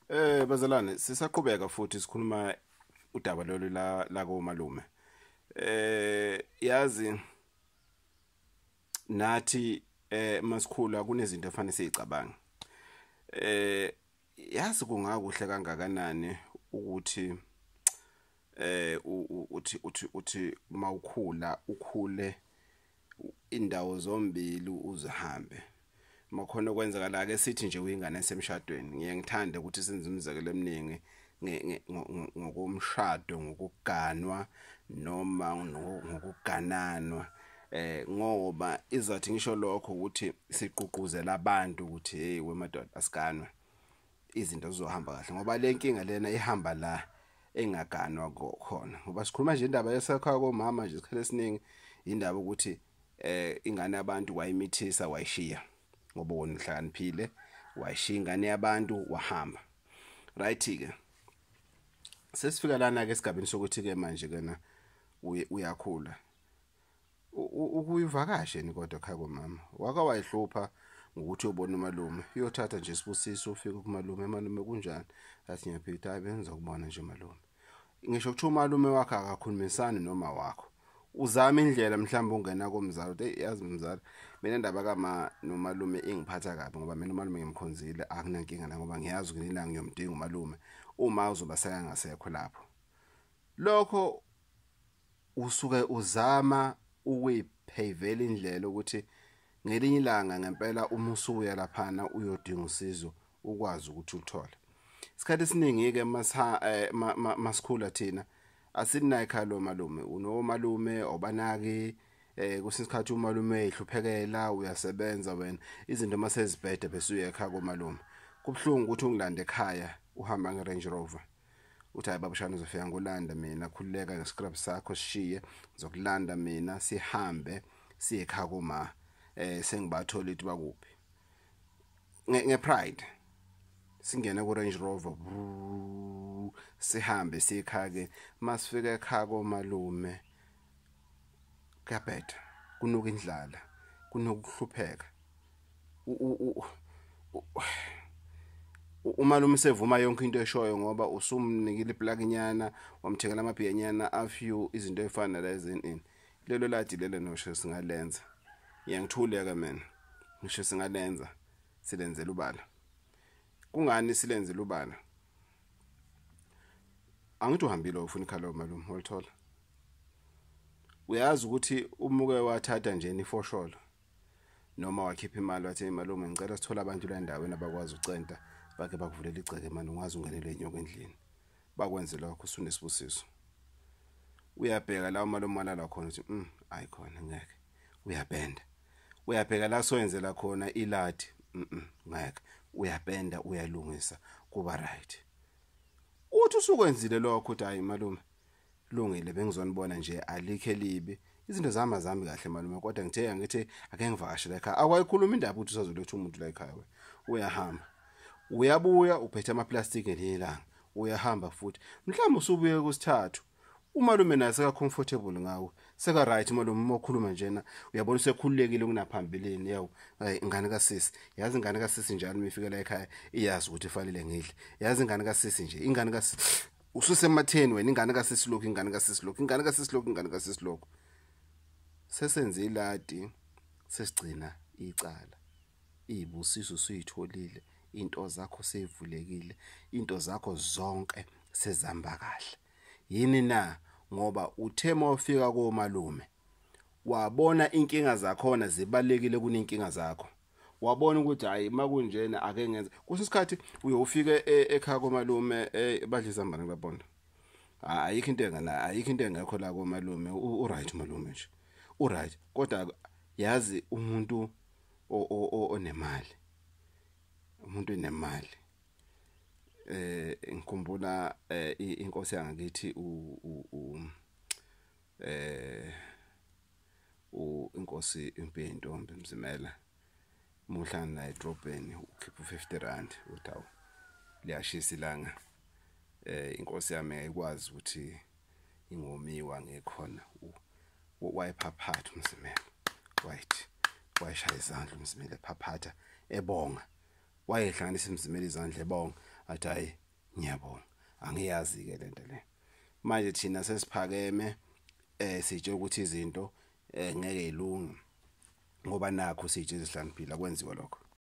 Eh bazalwane sisaqhubeka futhi sikhuluma udaba lolu la la komalume. Eh yazi nathi eh masikhula kunezinto efanele sizicabanga. Eh yazi kungakuhle kangakanani ukuthi eh uthi uthi uthi mawukhula ukhule indawo zombili uzihambe makhona okwenzakala ake sithi nje uyingane esemshadweni ngiye ngithande ukuthi senze imizekelo eminingi ngokomshado ngokuganwa noma ngokugananwa eh ngoba izathi ngisho lokho ukuthi siququzela abantu ukuthi hey wemadoda asiganwe izinto zizohamba kahle ngoba le nkinga lena ihamba la engaganwa khona ngoba sikhuluma nje indaba yesakha komama nje isikhathi esiningi indaba ukuthi eh ingane yabantu wayimithisa wayishiya ngoba wona uhlakaniphile wayishiya ingane yabantu wahamba right ke sesifika lana ke esigabeni sokuthi ke manje kena uyakhula ukuyivakashe ni kodwa khaya komama waka wayihlupha ngokuthi uyobona umalume uyothatha nje sibusiso ufike kumalume malume kunjani athi ngiyaphitha hayi bengiza kubona nje malume ngisho kuthiwa umalume wakhe akakhulumisani noma wakho uzama indlela mhlawumbe ungena komzali uthi yazi mzali mina ndaba kama nomalume ingiphatha kabi ngoba mina umalume ngimkhonzile akunankinga la ngoba ngiyazi nginilanga ngiyomdinga umalume uma uzoba sekangasekho lapho lokho usuke uzama ukuyiphayivela indlela ukuthi ngelinye ilanga ngempela uma usuya laphana uyodinga usizo ukwazi ukuthi uthole isikhathi esiningi ke eh, masikhula thina asinayo ekhaya lo malume unomalume obanaki eh kwesinye isikhathi umalume ehluphekela uyasebenza wena izinto masezibhede bese uye ekhaya komalume kubuhlungu ukuthi ungilande ekhaya uhamba nge Range Rover uthi hayi babushana uzofika ngolanda mina khululeka ngescrub sakho sishiye ngizokulanda mina sihambe siye ekhaya koma eh sengibathola ukuthi bakuphi ngepride singena ku Range Rover sihambe sikhake masifika ekhaya komalume kuyabheda kunuka indlala kunuka ukuhlupheka umalume sevuma yonke into eshoyo ngoba usumnikile iplakinyana wamthengela amabhiyenyana afew izinto efana nalezo ini lelo ladi lelo nosho singalenza ngiyangithuleka mina ngisho singalenza silenzela ubala kungani silenzela ubala angithi uhambile ufuna ikhala malume olithola uyazi ukuthi umuke wathatha nje nifosholo noma wakhipha imali wathi malume ngicela sithola abantu la ndaweni abakwazi ucenta bake bakuvulela igceke manje ungazi ungenele inyoko endlini bakwenze lokho usunesibusiso uyabheka la uma lomali la khona uthi mm ayi khona ngeke uyabhenda uyabheka la soyenzela khona iladi mm ngeke uyabhenda uyalungisa kuba right uthi usukwenzile lokho uthi hayi malume Lungile bengizonibona nje alikho elibi. Izinto zami azami kahle malume kodwa ngithe angithi ake ngivakashele ekhaya. Akwayikhuluma indaba ukuthi usazoletha umuntu la ekhaya we. Uyahamba. Uyabuya uphethe ama plastic ngelinye ilanga. Uyahamba futhi. Mhlawumbe usubuye kusithathu. Umalume naye seka comfortable ngawe. Seka right malume uma ukhuluma njena uyabona usekhululekile kunaphambilini yawu. Ay ingane kasisi. Yazi ingane kasisi njalo uma ifika la ekhaya iyazi ukuthi ifanele ngidle. Yazi ingane kasisi nje ingane kasisi ususematheni wena ingane kasesilokhu ingane kasesilokhu ingane kasesilokhu ingane kasesilokhu sesenze iladi sesigcina icala izibusiso suyitholile into zakho seyivulekile into zakho zonke sezihamba kahle yini na ngoba uthe mawufika komalume wabona inkinga zakhona zibalekile kunenkinga zakho wabona ukuthi hayi makunjena ake ngenze kusisikhathi uyofike e, ekhaya komalume e, badle izambane kulabonda ayikho into engana ayikho into engekho la komalume u right malume nje u right kodwa yazi umuntu onemali umuntu onemali eh ngikhumbula eh, inkosi yangakithi u eh inkosi impi yentombi mzimela uma uhlangana naye edrobheni ukhipha u-fifty rand uthi awu liyashisa ilanga um inkosi yami ayikwazi ukuthi ingomiwa ngekhona wayephaphatha umzimela wayithi wayeshaya izandla umzimela ephaphatha ebonga wayehlanganisa imzimela izandla ebonga athi hhayi ngiyabonga angiyazi ke lento le manje thina sesiphakeme eh sitshe ukuthi izinto eh, ngeke ilunge ngoba nakho sitshe izihlaniphila kwenziwa lokho